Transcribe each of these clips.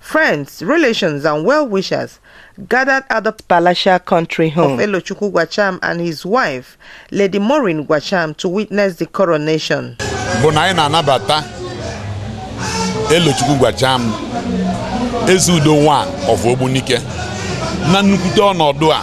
Friends, relations, and well wishers gathered at the palatial country home of Elochukwu Gwacham and his wife, Lady Maureen Gwacham, to witness the coronation. bụ na anyị na-anabata Elochukwu Gwacham ezi udo one of Ogbunike na nnukwute ọnọdụ a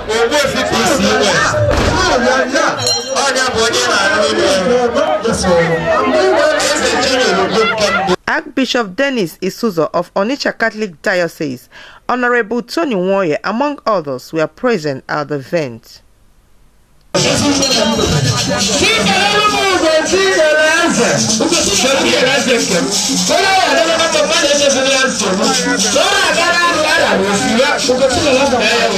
Ogbuefi PCOS onye bụ onye na-arụ ime eze Chinyere Ugwu nke mbụ Archbishop Dennis Isizoh of Onitsha Catholic Diocese, Honorable Tony Nwoye, among others, were present at the event.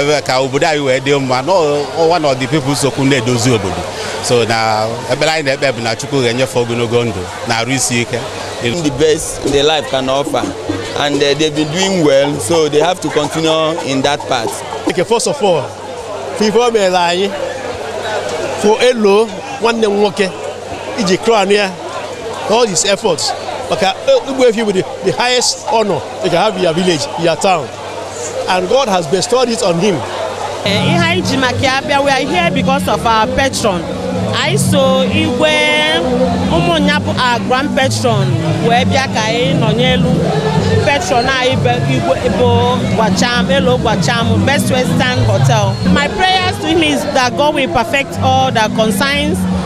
ebe ka obodo anyị wee dị mma n'ọwa na other people nsokwu na-edozi obodo so na ekpere anyị na-ekpe bụ na Chukwu ga-enye fa ogologo ndụ na arụ isi ike the best the life can offer and uh, they've been doing well so they have to continue in that path. Okay, first of all ife o mere anyị for Elo nwanne m nwoke iji crown ya all his efforts maka Ogbuefi bụ the highest honor you can have in your village your town and God has bestowed it on him. Eh, ihe anyị ji maka ya bịa we are here because of our patron anyị so Igwe Umunya bụ our grand patron wee bịa ka anyị nọnyeelụ patron anyị bụ Gwacham Elo Gwacham best western hotel my prayers to him is that god will perfect all that concerns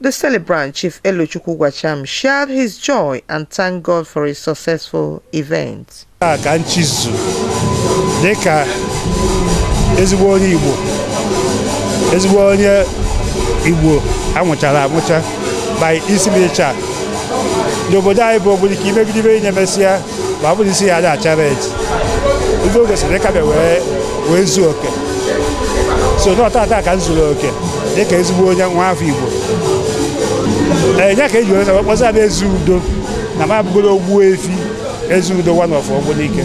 The celebrant, Chief Elochukwu Gwacham, shared his joy and thanked God for his successful event. a ka nchizu dị ka ezigbo onye igbo ezigbo onye igbo anwụchara anwụcha by isi m ịcha n'obodo anyị bụ Ogbunike imegide ife ị na-emesịa ma ọ bụrụ isi ya aja achara eji ife o gosiri ị ka bịa wee wee zuo oke so na ọ taata ka m zuru oke dịka ezigbo onye nwa afọ igbo ee ya ka eji wee wee kpọzịa m ezi udo na m abụgoro ogbu efi ezi udo one of Ogbunike